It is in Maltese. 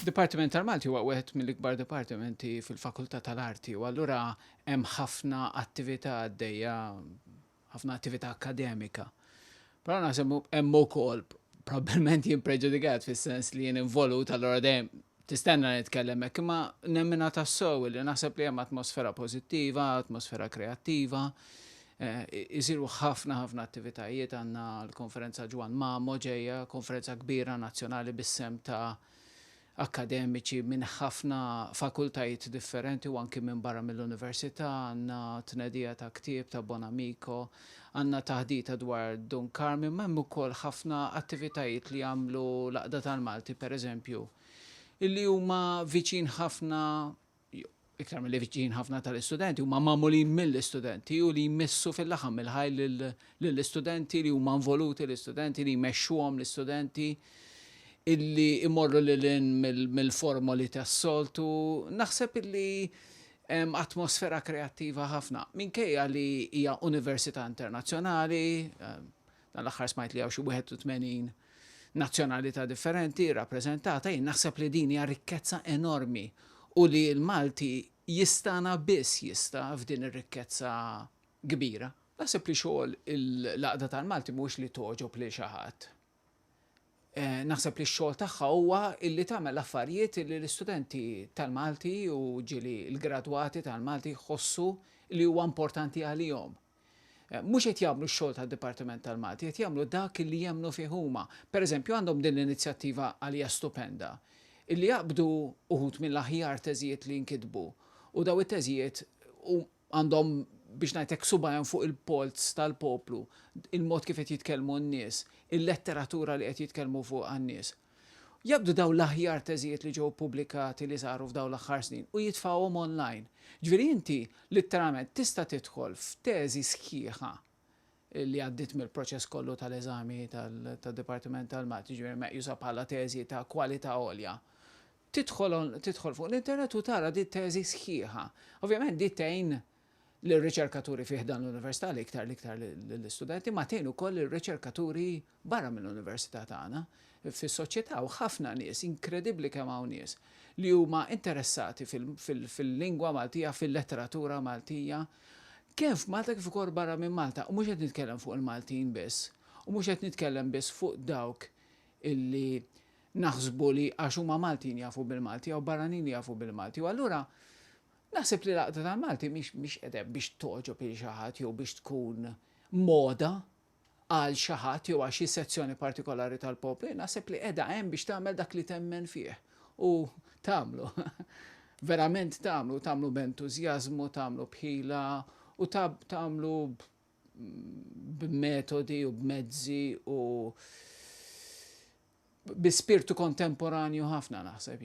Dipartiment tal-Malti huwa wieħed mill-ikbar dipartimenti fil-Fakultà tal-Arti u allura hemm ħafna attività għaddejja, ħafna attività akkademika. Però naħseb hemm ukoll probabbilment jien preġudikat fis-sens li jien involut allura dejjem tistenna nitkellem hekk, imma nemmina tassew li naħseb li hemm atmosfera pożittiva, atmosfera kreattiva, Isiru ħafna ħafna attivitajiet, għandna l-Konferenza Ġwann Mamo ġejja, konferenza kbira nazzjonali bis-sehem ta' akkademiċi minn ħafna fakultajiet differenti u anki minn barra mill-Università, għandna tnedija ta' ktieb ta' Bonamico, għandna taħdita dwar Dun Karmien, ma hemm ukoll ħafna attivitajiet li jagħmlu l-Għaqda tal-Malti pereżempju, li huma viċin ħafna iktar milli viċin ħafna tal-istudenti, huma magħmulin mill-istudenti u li jmissu fil-laħam il-ħaj lill-istudenti li huma involuti l-istudenti li jmexxuhom l-istudenti illi imorru lil mill-formoli tas-soltu. Naħseb illi atmosfera kreattiva ħafna. Minkejja li hija università internazzjonali, Dan l-aħħar smajt li hawn xi 81 nazzjonalità differenti rrappreżentata, jien naħseb li din hija rikkezza enormi u li l-Malti jistana biss jista' f'din ir-rikkezza kbira. Naħseb li xogħol l-Għaqda tal-Malti mhuwiex li togħġob lil xi ħadd. Eh, naħseb li x-xogħol tagħha huwa illi tagħmel affarijiet li l-istudenti tal-Malti u ġili l-gradwati tal-Malti jħossu li huwa importanti għalihom. Mhux qed jagħmlu x-xogħol tad-Dipartiment tal-Malti, qed jagħmlu dak illi jemmnu fih huma. Pereżempju għandhom din l-inizjattiva għalija stupenda, illi jaqbdu uħud mill-aħjar teżijiet li nkitbu u daw it-teżijiet għandhom biex ngħid hekk subgħajhom fuq il-polz tal-poplu, il-mod kif qed jitkellmu n-nies, il-letteratura li qed jitkellmu fuqha n-nies. Jaqbdu dawn l-aħjar teżijiet li ġew ppubblikati li saru f'dawn l-aħħar snin u jitfgħuhom online. Ġifieri inti litteralment tista' tidħol f'teżi sħiħa li għaddiet mill-proċess kollu tal-eżami tad-Dipartiment tal-Math, jiġifieri meqjusa bħala teżi ta' kwalità għolja. Tidħol tidħol fuq l-internet u tara di t-teżi sħiħa. Ovvjament di tgħin lir-riċerkaturi fi ħdan l-Università l-iktar l-iktar lill-istudenti, ma tgħin ukoll lir-riċerkaturi barra mill-Università tagħna fis-soċjetà hawn ħafna nies, inkredibbli kemm hawn nies li huma interessati fil-lingwa Maltija, fil-letteratura Maltija, kemm f'Malta kif ukoll barra minn Malta, u mhux qed nitkellem fuq il-Maltin biss, u mhux qed nitkellem biss fuq dawk illi naħsbu li għax huma Maltin jafu bil-Malti jew barranin jafu bil-Malti, u allura Naħseb li l-Għaqda tal-Malti mhix mhix qiegħda hemm biex togħġob lil xi ħadd jew biex tkun moda għal xi ħadd jew għal xi sezzjoni partikolari tal-poplu, naħseb li qiegħda hemm biex tagħmel dak li temmen fih u tagħmlu, verament tagħmlu, tagħmlu b'entużjażmu, tagħmlu b'ħila u tagħmlu b'metodi u b'mezzi u bi spirtu kontemporanju ħafna naħseb.